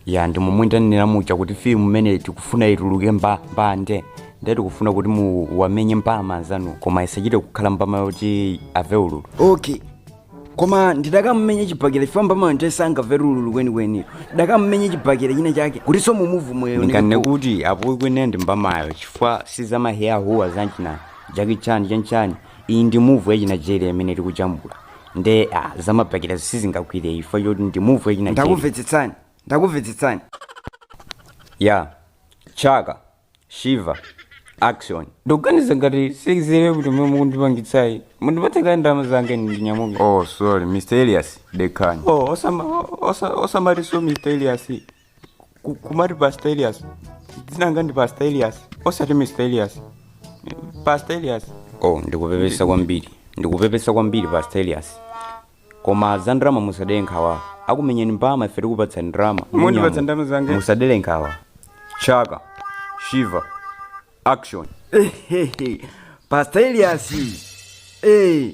ya ndi momwe ndanenera muja kuti filimu imene tikufuna ituluke mbambande ndiye tikufuna kuti muwamenye mbama anzanu koma isachite kukhala mbama yoti ave ululu okay koma ndidakamumenye chibhakera chifukwa mbamayo ndiye sangamve ululu kwenikweni ndidakamumenye chibhakera china chake kuti so mumuvu moyo ndikane kuti apo kwene ndi mbamayo chifukwa sizamaheya huwa zachina jackie chan chanchani iyi ndi movie yachi nigeria imene tikujambula nde ah, zamabhakerazo sizingagwire chifukwa choti ndi movie yachi nigeria ndakumvetsetsani ndakumvetsetsani ya chaka shiva action ndikuganiza ngati sizere kuti mwe mukundipangitsayi mundipatse kaye ndalama zanga ine ndinyamuke oh sorry mr elias dekhani oh osama osa- osamatiso mr elias Ku- kumati pastor elias dzina langa ndi pastor elias osati mr elias pastor elias oh ndikupepesa kwambiri ndikupepesa kwambiri pastor elias koma za ndalama musadere nkhawa akumenyeni mbama ife tikupatsani ndalama Mundipatsa ndalama zange? musadere nkhawa chaka shiva action pastor elias eh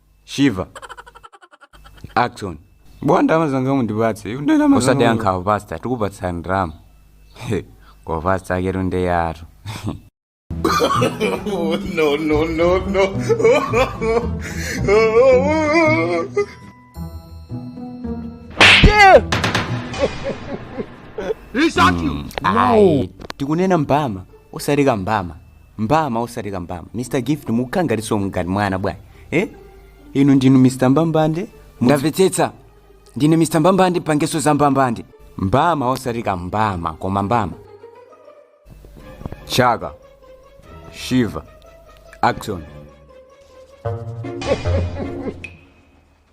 shiva action bwana ndalama zanga mundipatse iwe ndalama zanga osadera nkhawa pasta tikupatsa ndalama He, kwa pasta aketu ndi yatu ayi tikunena mbama osati kambama mbama osati kambama mr gift mukukhala ngati so ngati mwana bwanji eh? inu ndinu mr mbambande ndamvetsetsa ndine mr mbambande pangeso za mbambande mbama osati kambama koma mbama chaka shiva action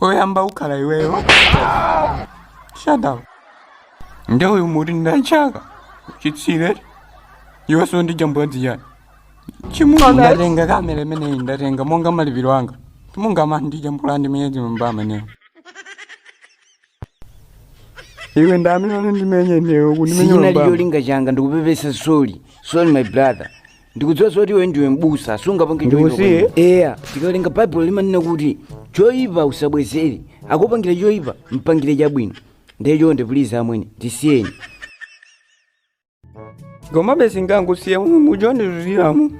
oyamba ukhala iweyo shut up nde uyu muti ndachaka chitsiru iwe so ndijambula zichani chimungu ndatenga kamera imeneyi ndatenga monga malipiro anga chimungu amandijambula ndimenyedwe mbama ameneyo iwe ndamene unandimenya ineyo kundimenya mbama sichinali cholinga changa ndikupepesa sorry sorry my brother ndikudziwa zoti iwe ndiwe mbusa sungapange Ndikusiye? eya tikawerenga baibulo limanena kuti choyipa usabwezere akupangira choyipa mpangire chabwino ndiye chonde pulizi amwene ndisiyeni komabe singakusiye mujondiriramo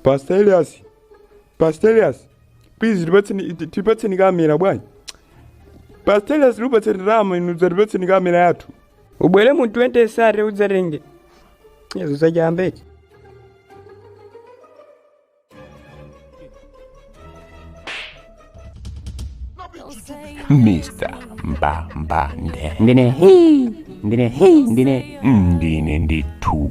Pastor Elias, Pastor Elias, please tipatseni tipatseni kamera bwana. Pastor Elias tikupatseni ndalama inu tipatseni kamera yathu. Ubwere mu 2030 udzatenge. Yesu zachamba. Mr. Mbambande. Ndine hii, ndine hii, ndine Ndine ndithu.